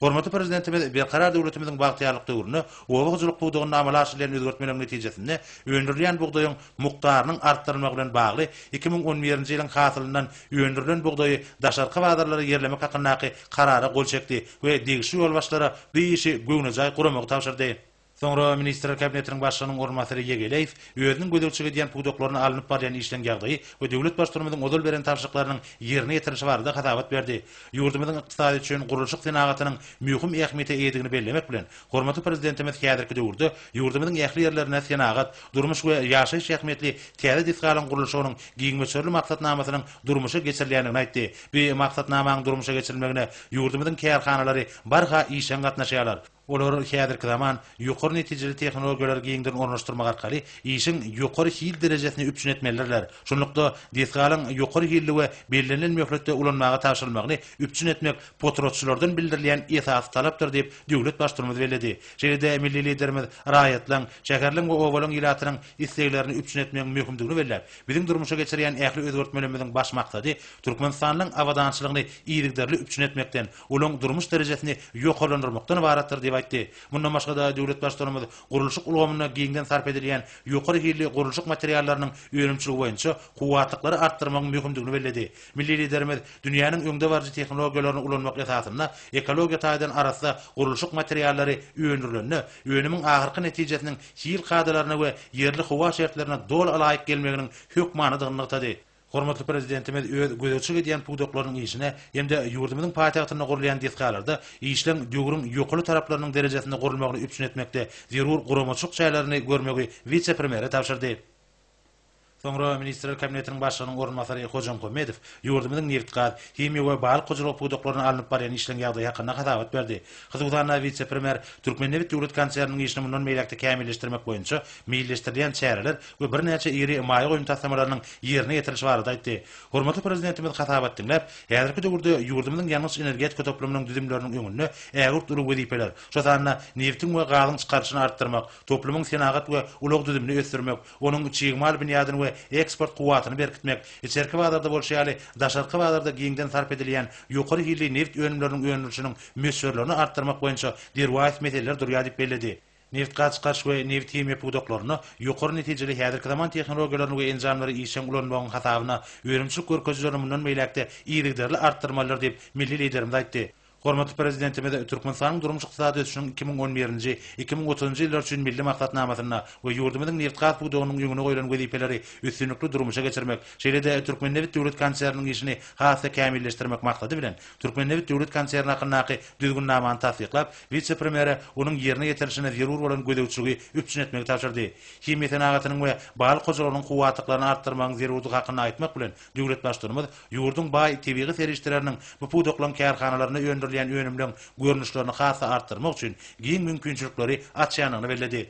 Hormatly Prezidentimiz Berkarar döwletimiziň bagtyýarlyk döwründe oba hojalyk pudagynda amala aşyrylýan özgertmeleriň netijesinde öndürilýän bugdaýyň mukdarynyň artdyrylmagy bilen bagly iki müň on birinji ýylyň hasylyndan öndürilen bugdaýy daşarky bazarlara ýerlemek hakyndaky Karara gol çekdi we degişli ýolbaşçylara bu işi göwnejaý guramagy tabşyrdy. Soňra Ministrler Kabinetiniň Başlygynyň orunbasary Ýegeleýew özüniň gözegçilik edýän pudaklaryna alnyp barýan işleň ýagdaýy we döwlet Baştutanymyzyň ozal beren tabşyryklarynyň ýerine ýetirilişi barada hasabat berdi. Ýurdumyzyň ykdysady üçin gurluşyk senagatynyň möhüm ähmiýete eýedigini bellemek bilen, hormatly Prezidentimiz häzirki döwürde ýurdumyzyň ähli ýerlerinde senagat, durmuş we ýaşaýyş ähmiýetli täze desgalaryň gurluşygynyň giňmöçberli maksatnamasynyň durmuşa geçirilýändigini aýtdy. Bu maksatnamanyň durmuşa geçirilmegine ýurdumyzyň kärhanalary barha işjeň gatnaşýarlar. Olar häzirki zaman ýokary netijeli tehnologiýalary giňden ornaşdyrmak arkaly işiň ýokary hil derejesini üpjün etmelidirler. Şunlukda, desgalaryň ýokary hilli we bellenilen möhletde ulanmaga tabşyrylmagyny üpjün etmek potratçylardan bildirilýän esasy talapdyr diýip, döwlet Baştutanymyz belledi. Şeýle-de milli Liderimiz raýatlaryň, şäherleň we obalaryň ilatynyň isleglerini üpjün etmegiň möhümdigini belläp, biziň durmuşa geçirýän ähli özgertmelerimiziň baş maksady Türkmenistanyň abadançylygyny yzygiderli üpjün etmekden, olaryň durmuş derejesini ýokarlandyrmakdan ybaratdyr diýip aýtdy. Mundan başga-da, döwlet Baştutanymyz gurluşyk ulgamynda giňden sarp edilýän ýokary hilli gurluşyk materiallarynyň önümçiligi boýunça kuwwatlyklary artdyrmagyň möhümdigini belledi. Milli Liderimiz dünýäniň öňdebaryjy tehnologiýalaryny ulanmak esasynda ekologiýa taýdan arassa gurluşyk materiallary öndürilende, önümiň ahyrky netijesiniň hil kadalaryna we ýerli howa şertlerine doly laýyk gelmeginiň hökmanydygyny nygtady. Hormatly Prezidentimiz öz gözegçilik edýän pudaklarynyň işine hem-de ýurdumyzyň paýtagtynda gurulýan desgalarda işleň döwrüň ýokaly taraplarynyň derejesinde gurulmagyny üpjün etmekde zerur guramaçylyk çärelerini görmegi wise-premýere tabşyrdy. Soňra Ministrler Kabinetiniň Başlygynyň orunbasary Hojamkommedow ýurdumyzyň nebit-gaz, himiýa we balyk hojalygy pudaklaryna alnyp barýan işleň ýagdaýy hakynda hasabat berdi. Hususan-da, wise-premýer Türkmennebit döwlet konserniniň işini mundan beýläk-de kämilleşdirmek boýunça meýilleşdirilýän çäreler we birnäçe iri maýa goýum taslamalarynyň ýerine ýetirilişi barada aýtdy. Hormatly Prezidentimiz hasabat diňläp, häzirki döwürde ýurdumyzyň ýangyç-energetika toplumynyň düzümleriniň öňünde ägirt uly wezipeler, şo sanda nebitiň we gazyň çykaryşyny artdyrmak, toplumyň senagat we ulag düzümini ösdürmek, onuň çig mal binýadyny we eksport kuwwatyny berkitmek, içerki bazarda bolşy ýaly, daşarky bazarda giňden sarp edilýän ýokary hilli nebit önümleriniň öndürilişiniň möçberlerini artdyrmak boýunça derwaýys meseleler durýar diýip belledi. nebitgaz çykaryş we nebithimiýa pudaklarynda ýokary netijeli häzirki zaman tehnologiýalaryny we enjamlary işjeň ulanmagyň hasabyna önümçilik görkezijilerini mundan beýläk-de yzygiderli artdyrmalydyr diýip, milli Liderimiz aýtdy. Hormatly Prezidentimiz Türkmenistanyň durmuş-ykdysady ösüşiniň iki müň on birinji, iki müň otuzynjy ýyllar üçin Milli maksatnamasynda we ýurdumyzyň nebitgaz pudagynyň öňüne goýlan wezipeleri üstünlikli durmuşa geçirmek, şeýle-de Türkmennebit döwlet konserniniň işini has-da kämilleşdirmek maksady bilen, Türkmennebit döwlet konserni hakyndaky Düzgünnamany tassyklap, wise-premýere onuň ýerine ýetirilişine zerur bolan gözegçiligi üpjün etmegi tabşyrdy. Himiýa senagatynyň we balyk hojalygynyň kuwwatlyklaryny artdyrmagyň zerurdygy hakynda aýtmak bilen, döwlet Baştutanymyz ýurduň baý tebigy serişdeleriniň bu pudaklaryň kärhanalarynda öndürilýän önümleň görnüşlerini has-da artdyrmak üçin giň mümkinçilikleri açýandygyny belledi.